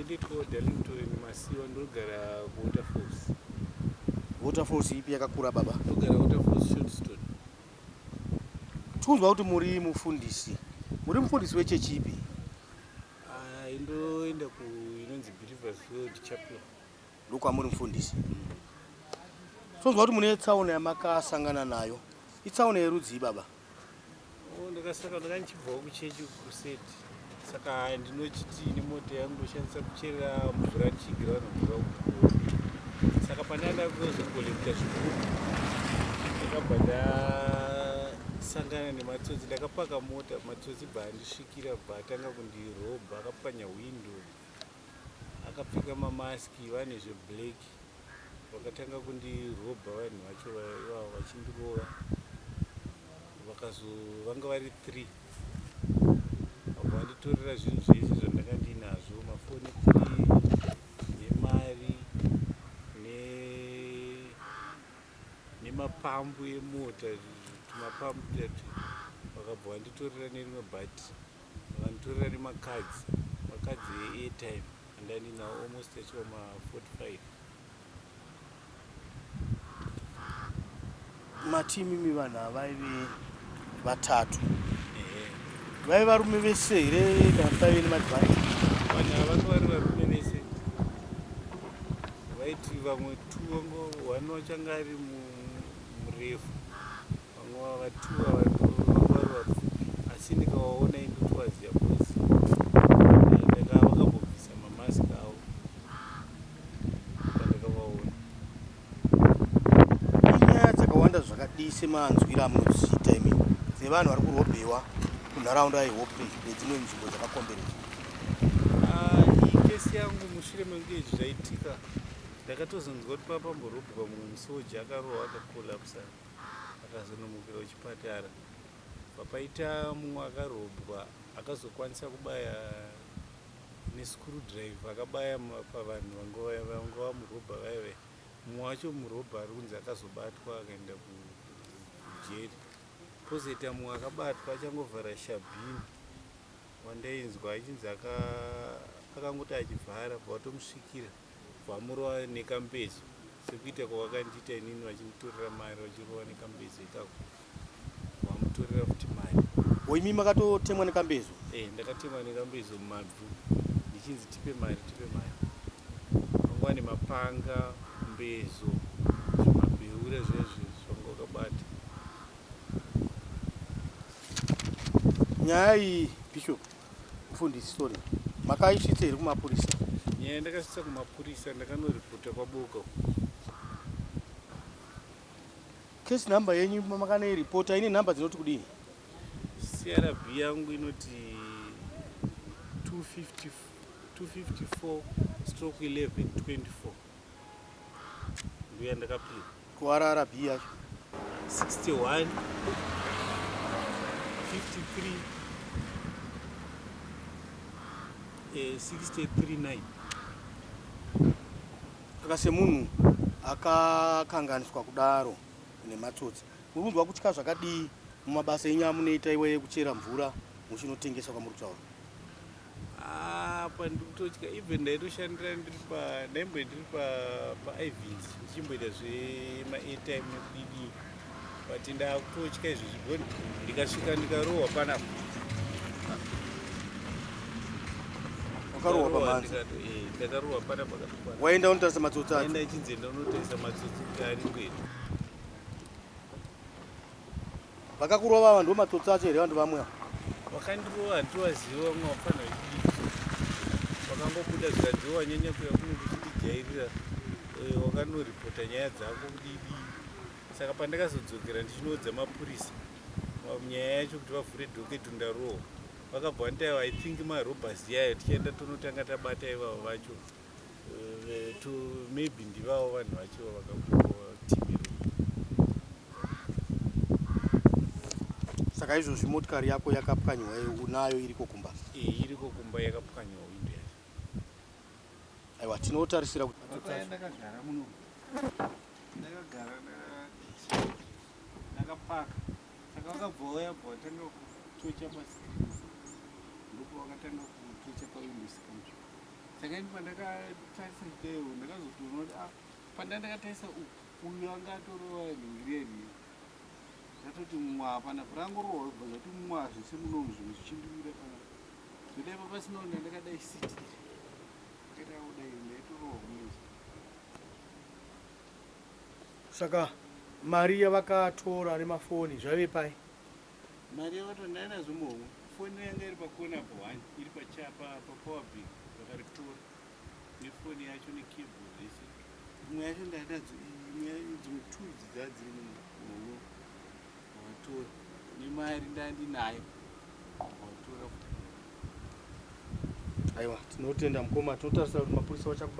Ndiko Darlington Masiwa ndogara kuWaterfalls. Waterfalls ipi yakakura baba? Ndogara Waterfalls Shortstone. Tikunzwa kuti muri mufundisi. Muri mufundisi wechechi ipi? Ah, indoenda ku inonzi Believers World Chapel. Ndokwamuri mufundisi. Tikunzwa kuti mune tsaona yamakasangana nayo. Itsaona yerudzi baba? Oh, ndakasaka ndanga ndichibvawo kuchechi crusade saka ndinochiti nemota yangu ndoshandisa kuchera mvura ndichigira vanhu mvura kukuo saka pane anda kuzokolekta zviguru ndakabva ndasangana nematsotsi ndakapaka mota matsotsi bva andisvikira bva atanga kundirobha akapwanya hwindo akapfeka mamask vane zveblack vakatanga kundirobha vanhu vacho ivavo vachindirova vakazovanga vari three vabva vanditorera zvinhu zvese zvandanga ndiinazvo mafoni three nemari nemapambu emota tumapambu tatu vakabva vanditorera nerimwe bhati Vanditorera nemacards macards eairtime andai ndinawo almost achova ma 45 mati imimi vanhu avaive vatatu vaive varume vese here kana paive nemadzimai vanhu avanga vari varume vese vaiti vamwe two vanga one wachanga ari murefu vamwe vavatuwa vangwari vapfupi asi ndikawaona indotovaziva bcoz eh, ndakaa vakambobvisa mamask avo pandakavaona inyaya dzakawanda zvakadii semanzwira amunodziita imi dzevanhu vari kurobhewa kunharaunda yehope nedzimwe nzvimbo dzakakomberedza ah, iyi kesi yangu mushure mekunge izvi zvaitika ndakatozonzwa kuti papamborobhwa mumwe musoja akarohwa akakolapsa Akazonomukira kuchipatara papaita mumwe akarobwa akazokwanisa kubaya nescrew drive akabaya pavanhu vanga vamurobha vaive mumwe wacho murobha ari kunzi akazobatwa akaenda kujeri kozoita mumwe akabatwa achangovhara shabhini wandainzwa achinzi akangoti achivhara bva watomusvikira kubva murova nekambezo sekuita kwavakandiita inini vachinditorera mari vachirova nekambezo ikako vamutorera futi mari oimi makatotemwa nekambezo e eh, ndakatemwa nekambezo mumabvu ndichinzi tipe mari tipe mari vanguva nemapanga mbezo zvimabheure zvezvi zvanga wakabata nyaya iyi bishop Mfundisi, sorry. Makaisvitsa here kumapurisa? Nyaya ndakasvitsa kumapurisa ndakanoripota kwaboka. Case number yenyu makanoiripota ine number dzinoti kudii? CRB yangu inoti 254 stroke 1124. Mbuya ndakapinda. Kuwarara B yacho. 61 53 eh, 639 saka semunhu akakanganiswa kudaro nematsotsi muri kunzwa kutya zvakadii mumabasa enyu amunoita iweye kuchera mvura muchinotengesa kwamuri kutaura apa ah, ndikutotya even ndaitoshandira ndiri pa ndaimbo ndiri pa pa ivs ndichimboita zvema airtime nekudidi but ndakutotya izvi zvigoni ndikasvika ndikarohwa panapa wakarohwa pamanzi eh, ndakarohwa panapa waenda unotarisa matsotsi aenda ichinzi enda unotarisa matsotsi ari kwedu Vakakurova ava ndomatsotsi acho here vanhu vamwe ava? Vakandirova handivaziva vamwe vafana vakangobuda zvikanzi wanyanya kuya kuno kuchitijairira eh, wakanoripota nyaya dzako kudidi saka pandakazodzokera ndichinoudza mapurisa nyaya yacho kuti vavhure doketu ndarohwa vakabva vanditaiva i think marobas yayo tichaenda tonotanga tabata ivavo vacho to maybe ndivavo vanhu vacho vakakukoa tv saka izvozvi motikari yako yakapwanywa unayo iriko kumba e, iriko kumba yakapwanywa windo yacho aiwa tinotarisira kutindakagara muno ndakagara ndakapaka saka vakabvauya bva vatanga kutocha pasi ndipo vakatanga kutocha pawindo sika saka ini pandakatarisa chidaiwo ndakazotoona kuti ah, pandai ndakatarisa uyu anga atorova ringireri ndatoti mwa panapa rangorohwa kubva zvati mwa zvese munomu zvinhu zvichindimira panapa zvoda ipa pasina una ndakadai siti ndakadaodai ndaitorohwa munozi saka mari yavakatora nemafoni zvaive pai Mari yavatora ndaina zvimbohwa. Foni yanga iri pakona apo hwani iri pachapa papower bank vakaritora nefoni yacho nekeyboard zvese. Imwe yacho ndainadzo dzimwe two idzi dzadziri muno vakatora nemari ndandinayo vakatora. Aiwa tinotenda mukoma tinotarisira kuti mapurisa vachakuba.